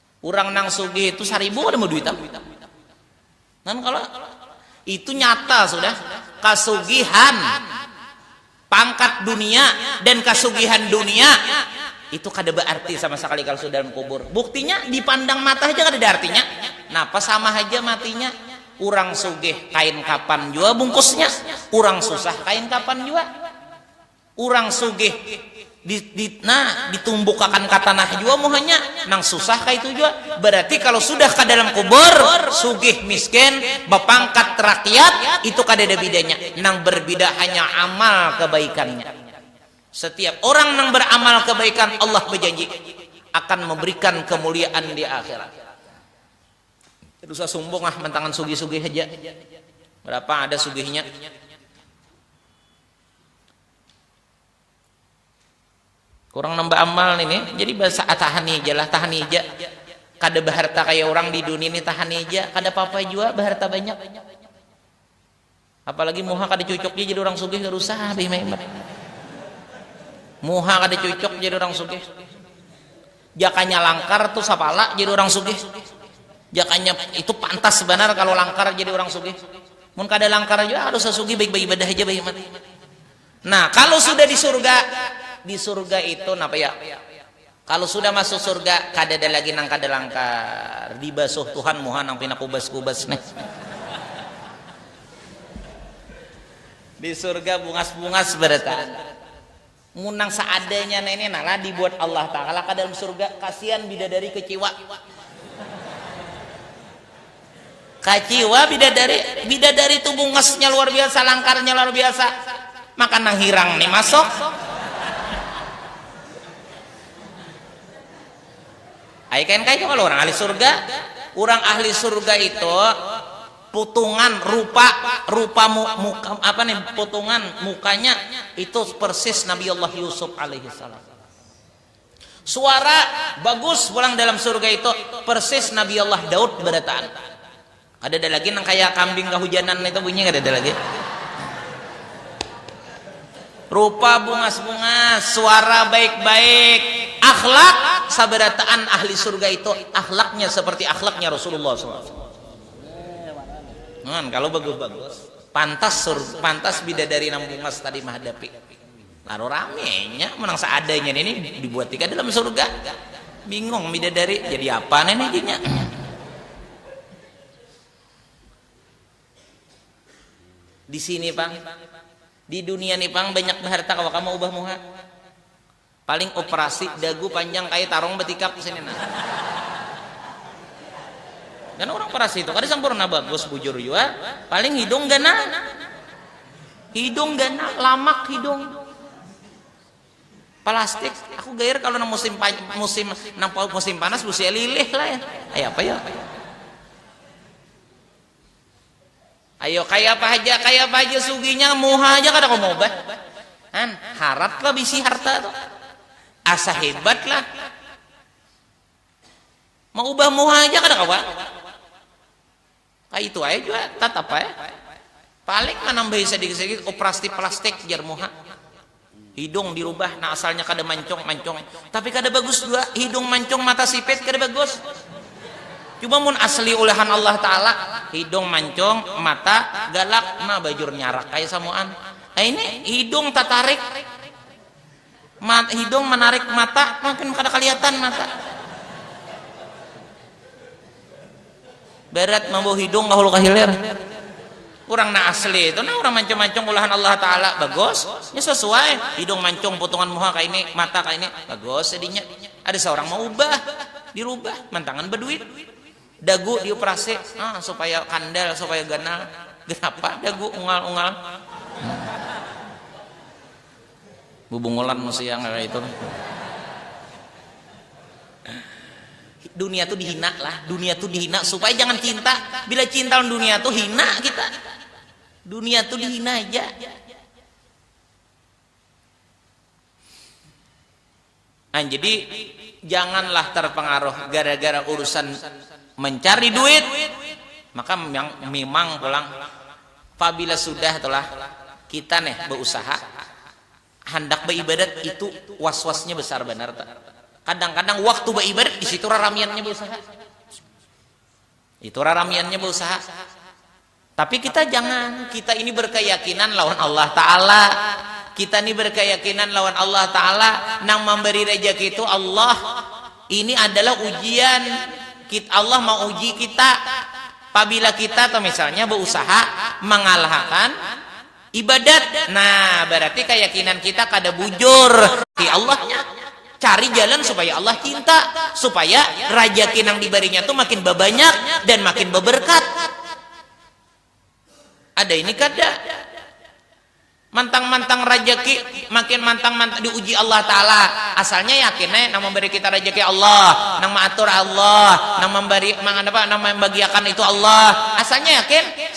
Urang nang sugih itu saribu kada mau duitan. Kan kalau itu nyata sudah kasugihan pangkat dunia dan kasugihan dunia itu kada bearti sama sekali kalau sudah dalam kubur. Buktinya dipandang mata haja kadada artinya. Napa sama haja matinya. Urang sugih kain kapan jua bungkusnya, urang susah kain kapan jua. Urang sugih di, di nah ditumbukakan ka tanah jua muhanya nang susah kaitu jua berarti kalau sudah ka dalam kubur sugih miskin bapangkat rakyat itu kadada bidanya nang berbida hanya amal kebaikannya setiap orang nang beramal kebaikan Allah bejanji akan memberikan kemuliaan di akhirat kada usah sumbung ah mantangan sugih-sugih haja berapa ada sugihnya Kurang nambah amal nih, nih. Jadi bahasa ah, tahan ija lah, tahan ija. Kada baharta kaya orang di dunia nih, tahan ija. Kada papa jua baharta banyak. Apalagi muha kada cucuk ja jadi orang sugih, kada usah ah bahima-hima. Muha kada cucuk jadi orang sugih. Jakanya langkar tu sapala jadi urang sugih. Jakanya itu pantas banar kalu langkar jadi urang sugih. Mun kada langkar jua harus sasugih baik baibadah haja bahimat. Nah, kalu sudah di surga, di surga itu napa ya? Kalu sudah masuk surga kadada lagi nang kada langkar. Dibasuh Tuhan muha nang pina kubas-kubas nih. Di surga bungas-bungas barataan. Mun nang seadanya nah ini nah lah dibuat Allah Taala ka dalam surga, kasian bidadari keciwa. Kaciwa bidadari, bidadari tu bungasnya luar biasa, langkarnya luar biasa, maka nang hirang ni masuk. Ai kain kain kalo urang ahli surga, urang ahli surga itu. Putungan rupa, rupa mu muka apa nih putungan mukanya itu persis Nabiullah Yusuf alaihissalam. Suara bagus pulang dalam surga itu persis Nabiullah Daud berataan. Kadada lagi nang kaya kambing kahujanan itu bunyi kadada lagi. Rupa bungas-bungas, suara baik-baik, akhlak sabarataan ahli surga itu akhlaknya seperti akhlaknya Rasulullah saw. Nuan, kalau bagus-bagus, pantas sur, pantas bidadari nang bungas tadi mahadapi. Lalu ramenya, menang seadanya ini dibuat tiga dalam surga. Bingung bidadari, jadi apa ini dinya? Di sini pang, di dunia ni pang banyak baharta kawa kamu ubah muha. Paling operasi dagu panjang kaya tarong batikap disini nah. Karna urang operasi tu kada sampurna bagus bujur jua, paling hidung ganal. Hidung ganal, lamak hidung. Palastik, aku gair kalo nang musim musim nang musim panas busia lilih lah ya. Kaya apa yo. Ayo kayapa haja kayapa haja sugihnya muha haja kada kawa maubah han harat lah bisi harta tu asa hebat lah maubah muha haja kada kawa kaya itu ae jua tatap ae paling manambahi sadikit sadikit operasi plastik jar muha. Hidung dirubah nang asalnya kada mancung mancung tapi kada bagus jua hidung mancung mata sipit kada bagus cuba mun asli ulehan Allah taala hidung mancung mata galak nah bajur nyarak kaya samuan ini hidung tatarik mat hidung manarik mata makin kada kaliatan mata. Berat mambawa hidung ka hulu ka hilir. Urang nang asli itu nah urang mancung-mancung ulahan Allah Taala bagus, nya sasuai, hidung mancung putungan muha kaini, mata kaini, bagus jadinya. Ada saurang maubah, dirubah, mantangan baduit. Dagu diuprasi, ah supaya kandal, supaya ganal. Ganapa dagu ungal-ungal. Bubungulan musti yang kaya itu. Dunia tu dihina lah, dunia tu dihina supaya jangan cinta. Bila cinta lawan dunia tu hina kita. Dunia tu dihina haja. Nah, jadi janganlah terpengaruh gara-gara urusan mencari duit, maka memang pulang pabila sudah tulah kita neh beusaha handak beibadat itu was-wasnya besar banar tu. Kadang-kadang waktu beibadat di situ raramiannya beusaha. Itu raramiannya beusaha. Tapi kita jangan, kita ini berkeyakinan lawan Allah Ta'ala. Kita ini berkeyakinan lawan Allah Ta'ala. Nang mamberi rejeki itu Allah. Ini adalah ujian. Allah mauji kita. Pabila kita, misalnya beusaha mangalahakan. Ibadat, nah bararti kayakinan kita kada bujur ti Allahnya. Cari jalan supaya Allah cinta, supaya rajaki nang dibarinya tu makin babanyak dan makin babarkat. Ada ini kada? Mantang-mantang rajaki makin mantang-mantang diuji Allah Taala, asalnya yakin ai nang mambari kita rajaki Allah, nang maatur Allah, nang mambari nang mambagiakan itu Allah, asalnya yakin.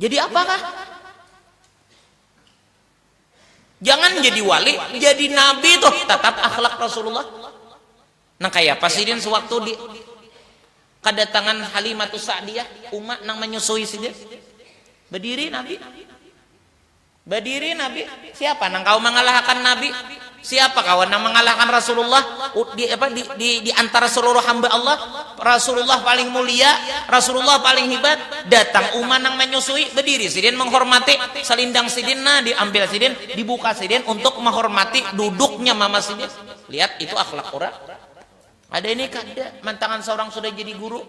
Jadi apa kah? Jangan jadi wali, jadi nabi tuh tetap akhlak Rasulullah. Nang kaya apa sidin sewaktu di kedatangan Halimatus Sa'diyah, umat nang menyusui sidin. Berdiri nabi. Badiri Nabi, siapa nang kawa mangalahakan Nabi? Siapa kawa nang mangalahakan Rasulullah? Di apa di di di antara seluruh hamba Allah, Rasulullah paling mulia, Rasulullah paling hibat, datang uma nang manyusui, badiri sidin manghormati, salindang sidin nah diambil sidin, dibuka sidin untuk mahormati duduknya mama sidin. Lihat itu akhlak urang. Ada ini kada, mantangan saurang sudah jadi guru,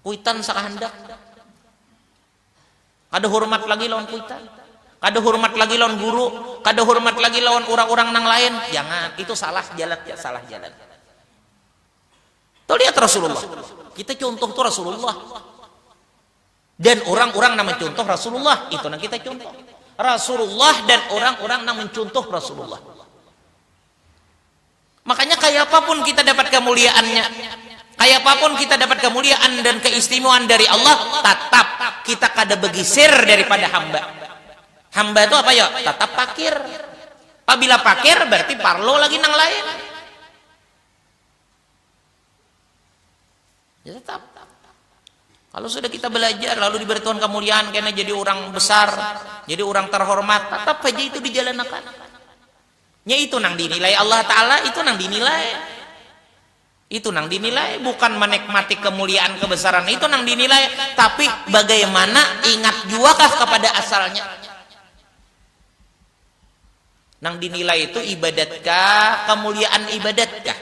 kuitan sakahandak. Kada hurmat lagi lawan kuitan. Kada hurmat lagi lawan guru. Kada hurmat lagi lawan urang-urang nang lain. Jangan. Itu salah jalan. Salah jalan. Tuh lihat Rasulullah. Kita contoh tuh Rasulullah. Dan orang-orang nang mencontoh Rasulullah. Itu nang kita contoh. Rasulullah dan orang-orang nang mencontoh Rasulullah. Makanya kayapapun kita dapat kamuliaannya, kayapapun kita dapat kamuliaan dan keistimewaan dari Allah, tatap kita kada begiser daripada hamba. Hamba tu apa yo? Tatap pakir. Pabila pakir berarti parlu lagi nang lain. Ya tetap. Kalau sudah kita belajar lalu diberi Tuhan kamuliaan kena jadi orang besar, jadi orang terhormat, tetap saja itu dijalanakan. Nya itu nang dinilai Allah Ta'ala, itu nang dinilai. Itu nang dinilai, bukan manikmati kemuliaan kebesaran, itu nang dinilai. Tapi bagaimana ingat juakah kepada asalnya? Nang dinilai itu ibadatkah, kemuliaan ibadatkah?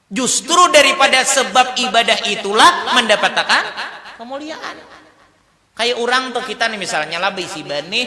Justru daripada sebab ibadah itulah mandapatakan kemuliaan. Kaya urang tuh kita nih misalnya lah baisi banih,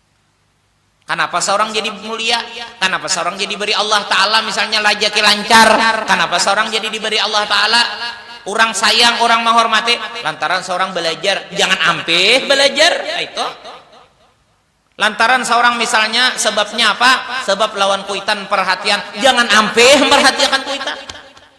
Kanapa saurang jadi mulia? Kanapa saurang jadi diberi Allah Ta'ala misalnya rajaki lancar? Kanapa saurang jadi diberi Allah Ta'ala urang sayang, urang mahormati? Lantaran saurang balajar. Jangan ampih balajar, kaitu. Lantaran saurang misalnya sebabnya apa? Sebab lawan kuitan parhatian. Jangan ampih marhatiakan kuitan.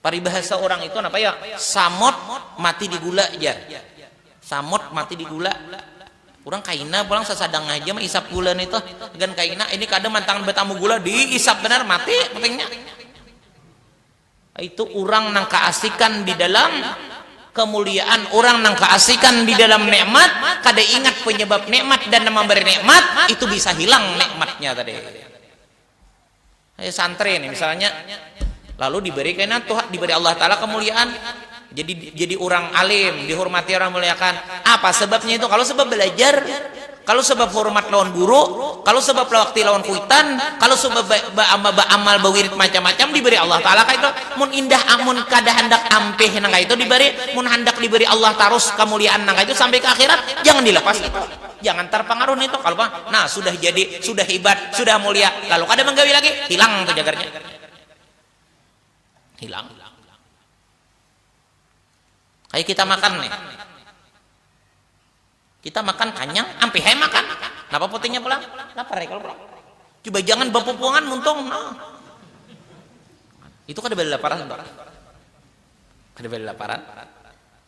Paribahasa urang itu napa yo? Samot mati di gula jar. Samot mati di gula. Urang kaina pulang sasadang haja maisap gula nitu. Gan kaina, ini kada mantangan batamu gula, diisap banar, mati putingnya. Itu urang nang kaasikan di dalam kemuliaan, urang nang kaasikan di dalam nikmat, kada ingat penyebab nikmat dan nang mambari nikmat, itu bisa hilang nikmatnya tadi. Ini santri nih misalnya lalu diberi kena tuh diberi Allah taala kemuliaan jadi jadi orang alim dihormati orang muliakan apa sebabnya itu kalau sebab belajar kalau sebab hormat lawan guru kalau sebab waktu lawan kuitan kalau sebab baamal baamal bawirid macam-macam diberi Allah taala kayak itu mun indah amun kada handak ampih nang itu diberi mun handak diberi Allah tarus kemuliaan nang itu sampai ke akhirat jangan dilepas itu Jangan tarpangaruh nintu kalu pang nah sudah jadi, sudah hibat, sudah mulia lalu kada manggawi lagi hilang tu cagarnya. Hilang. Kaya kita makan nih. Kita makan kanyang ampih ai makan. Napa putingnya pulang? Lapar ai kalu pulang. Coba jangan bapupungan muntung nah. Itu kada bala laparan tu. Kada bala laparan.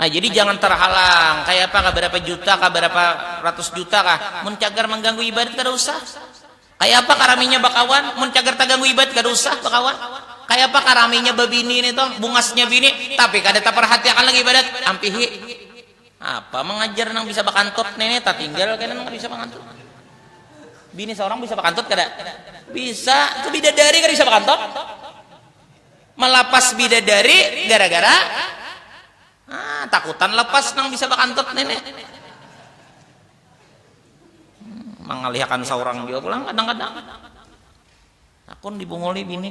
Nah, jadi jangan terhalang. Kayak apa, kah berapa juta, kah berapa ratus juta kah. Mun cagar mengganggu ibadat, kada usah. Kayak apa kah raminya bakawan, mun cagar terganggu ibadat, kada usah bakawan. Kayak apa kah raminya babini ini toh, bungasnya bini, tapi kada terperhatiakan lagi ibadat, ampihi. Apa mengajar nang bisa bakantut nene tatinggal kena nang bisa bakantut. Bini seorang bisa bakantut kada? Bisa, itu bidadari kada bisa bakantut. Melapas bidadari gara-gara ah takutan lepas nang bisa bakantut nene. Mangalihakan seorang jua pulang kadang-kadang. Hakun dibunguli bini.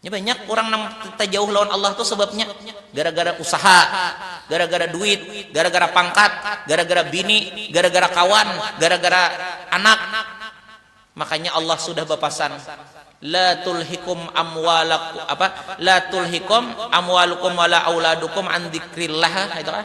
Nya banyak urang nang tajauh lawan Allah tu sababnya gara-gara usaha, gara-gara duit, gara-gara pangkat, gara-gara bini, gara-gara kawan, gara-gara anak. Makanya Allah sudah bapasan, La tulhikum amwalaku apa, La tulhikum amwalukum wala auladukum an dzikrillah, kaitu kah?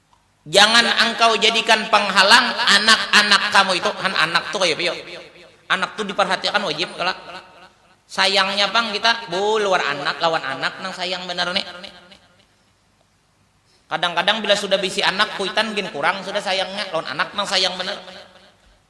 Jangan angkau jadikan panghalang anak-anak kamu itu, han anak tu kaya piyo, anak tu diparhatiakan wajib kalo, sayangnya pang kita buluar anak lawan anak nang sayang banar ni, kadang-kadang bila sudah bisi anak kuitan gin kurang sudah sayangnya lawan anak nang sayang banar.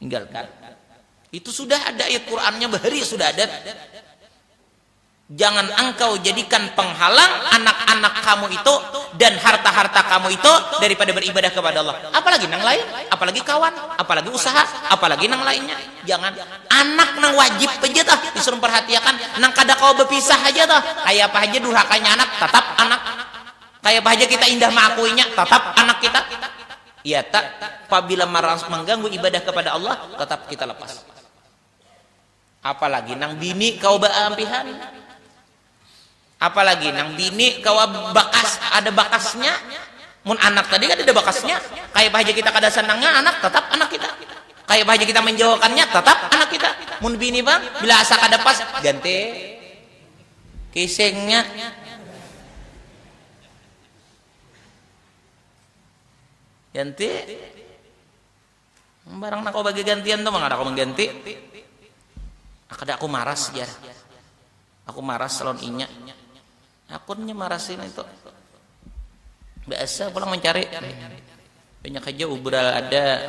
Tinggalkan. Itu sudah ada ayat Qur'annya bahari sudah ada. Jangan engkau jadikan penghalang anak-anak kamu itu dan harta-harta kamu itu daripada beribadah kepada Allah. Apalagi nang lain, apalagi kawan, apalagi usaha, apalagi nang lainnya. Jangan anak nang wajib aja tah disuruh perhatiakan, nang kada kau berpisah aja tah. Kayak apa aja durhakanya anak, tetap anak. Kayak apa aja kita indah mengakuinya, tetap anak kita. Iya tak, pabila maras mangganggu ibadah kapada Allah, tatap kita lapas. Apalagi nang bini kawa baampihan. Apalagi nang bini kawa bakas ada bakasnya. Mun anak tadi kadada bakasnya. Kaya apa haja kita kada sanangnya anak, tatap anak kita. Kaya apa haja kita manjauhakannya, tatap anak kita. Mun bini pang, bila asa kada pas, ganti kisingnya. Ganti. Barang nang kawa bagagantian tu mangada aku mangganti. Nah kada aku maras jar. Aku maras lawan inya. Hakunnya marasi nitu. Baasa pulang mancari. Banyak haja ubral ada.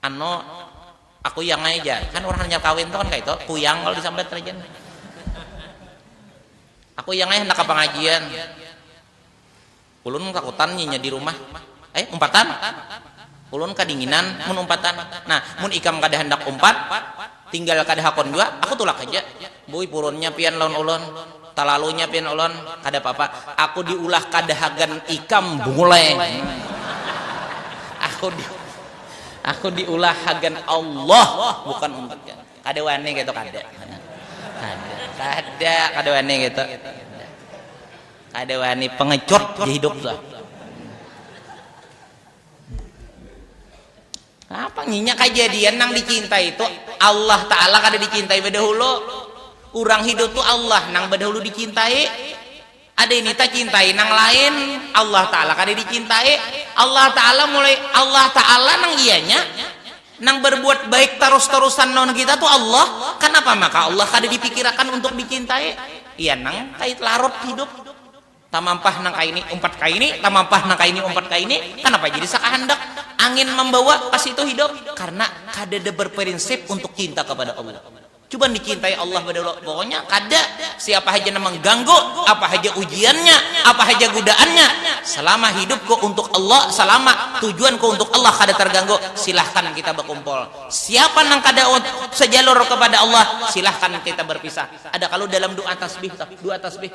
Anu, akuyang ai jar. Kan urang hanyar kawin tu kan kaitu, kuyang kalu disambat rajin nih. Akuyang ai handak ka pangajian. Ulun kakutan inya di rumah. Eh, umpatan? Ulun kadinginan mun umpatan. Nah, mun ikam kada handak umpat. Tinggal kada hakun jua, aku tulak haja. Buih purunnya pian lawan ulun, talalunya pian ulun, kada papa. Aku diulah kada hagan ikam buleng. Aku di aku diulah hagan Allah bukan untuk ikam. Kada wani kaytu kada. Kada. Kada kada wani kaytu. Kada. Kada wani pengecut ja hidup tuh. Napa nginya kajadian nang dicintai tu Allah Ta'ala kada dicintai badahulu. Urang hidup tu Allah nang badahulu dicintai. Ada ini tacintai nang lain, Allah Ta'ala kada dicintai. Allah Ta'ala mulai, Allah Ta'ala nang ianya nang barbuat baik tarus-tarusan lawan kita tu Allah. Kanapa maka Allah kada dipikirakan untuk dicintai? Iya nang kait larut hidup. Tamampah nang kaini umpat kaini, tamampah nang kaini umpat kaini, kanapa jadi sakahandak angin mambawa ka situ hidup? Karna kadada barparinsip untuk cinta kapada Allah. Cuba dicintai Allah badahulu, pokoknya kada siapa haja nang mangganggu, apa haja ujiannya, apa haja gudaannya, salama hidupku untuk Allah, salama tujuanku untuk Allah kada targanggu, silahkan kita bakumpul. Siapa nang kada sajalur kapada Allah, silahkan kita barpisah. Ada kalu dalam du'a tasbih tuh, du'a tasbih.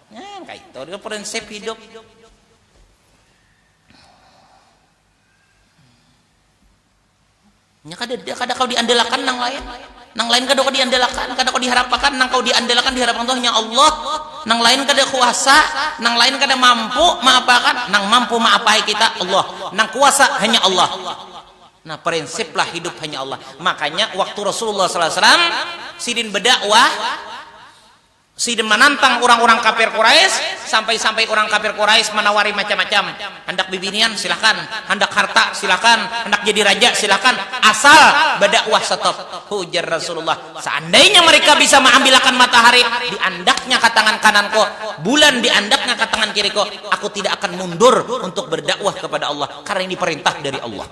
Nah, kayak itu prinsip hidup. Nya kada kada kau diandalakan nang lain. Nang lain kada kau diandalakan, kada kau diharapakan, nang kau diandalakan diharapakan tuh nya Allah. Nang lain kada kuasa, nang lain kada mampu maapakan, nang mampu maapai kita Allah. Nang kuasa hanya Allah. Nah, prinsiplah hidup hanya Allah. Makanya waktu Rasulullah sallallahu alaihi wasallam sidin berdakwah Sidin manantang urang-urang kafir Quraisy, sampai-sampai urang kafir Quraisy manawari macam-macam, handak bibinian silakan, handak harta silakan, handak jadi raja silakan, asal badakwah stop. Ujar Rasulullah, Seandainya mereka bisa maambilakan matahari di andaknya ka tangan kananku, bulan di andaknya ka tangan kiriku, aku tidak akan mundur untuk berdakwah kepada Allah, karena ini perintah dari Allah.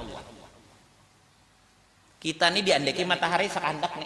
Kita ni diandaki matahari sakahandak ni.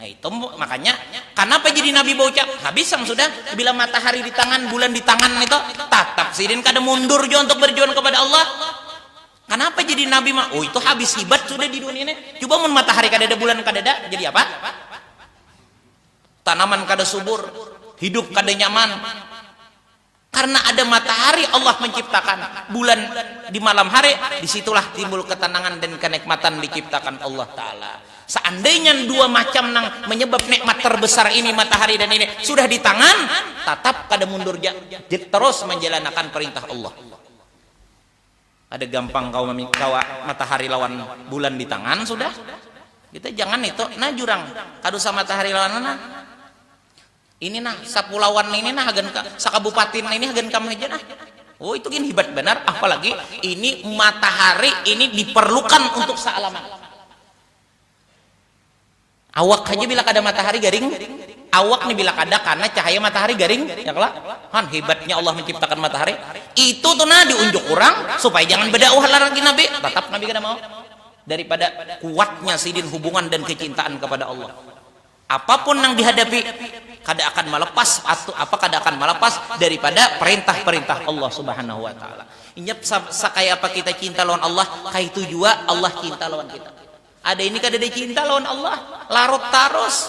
Nah itu makanya kenapa jadi Nabi baucap habis yang sudah bila matahari di tangan bulan di tangan itu tatap sidin kada mundur juga untuk berjuang kepada Allah kenapa jadi Nabi mah oh itu habis hibat sudah di dunia ini coba mun matahari kada ada bulan kada ada jadi apa tanaman kada subur hidup kada nyaman Karena ada matahari Allah menciptakan bulan di malam hari, disitulah timbul ketenangan dan kenikmatan diciptakan Allah Ta'ala. Seandainya dua macam nang menyebab nikmat terbesar ini matahari dan ini sudah di tangan, tatap kada mundur ja, terus menjalanakan perintah Allah. Kada gampang kawa kawa matahari lawan bulan di tangan sudah, kita jangan itu nah jurang, kada usah matahari lawan mana. Ini nah, sapulauan ini nah hagan ka, sakabupatin ini hagan kam haja nah. Oh itu gin hibat banar, apalagi ini matahari ini diperlukan untuk saalaman. Awak haja bila kada matahari garing, awak ni bila kada kana cahaya matahari garing, ya kalo? Han hibatnya Allah menciptakan matahari. Itu tu nah diunjuk urang supaya jangan badakwah lah lagi Nabi, tatap Nabi kada mau. Daripada kuatnya sidin hubungan dan kecintaan kepada Allah. Apapun nang dihadapi kada akan malepas atau apa kada akan malepas daripada perintah-perintah Allah Subhanahu wa taala. Inya sakaya apa kita cinta lawan Allah, kaitu jua Allah cinta lawan kita. Ada ini kadada cinta lawan Allah, larut tarus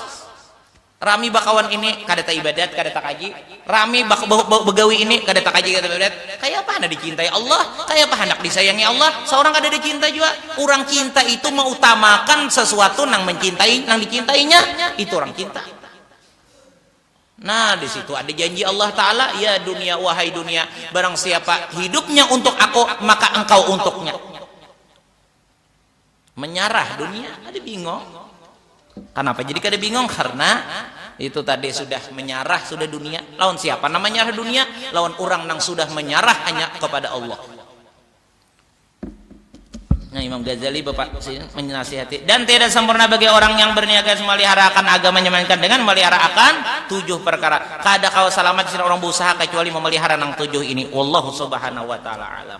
rami bakawan ini, kada taibadat, kada takaji, Rami ba ba bagawi ini kada takaji kada badat, kayapa handak dicintai Allah, kayapa handak disayangi Allah saurang kadada cinta jua, urang cinta itu mautamakan sesuatu nang mencintai nang dicintainya, itu urang cinta. Nah disitu ada janji Allah Taala, ya dunia wahai dunia barang siapa hidupnya untuk Aku maka engkau untuknya. menyarah dunia kada bingong kenapa jadi kada bingong karena itu tadi sudah menyarah sudah dunia lawan siapa nama menyarah dunia lawan orang nang sudah menyarah hanya kepada Allah nah Imam Ghazali bapak menasihati dan tidak sempurna bagi orang yang berniat melihara akan agama melainkan dengan melihara akan tujuh perkara kada kau selamat sih orang berusaha kecuali memelihara nang tujuh ini Allah subhanahu wa ta'ala alam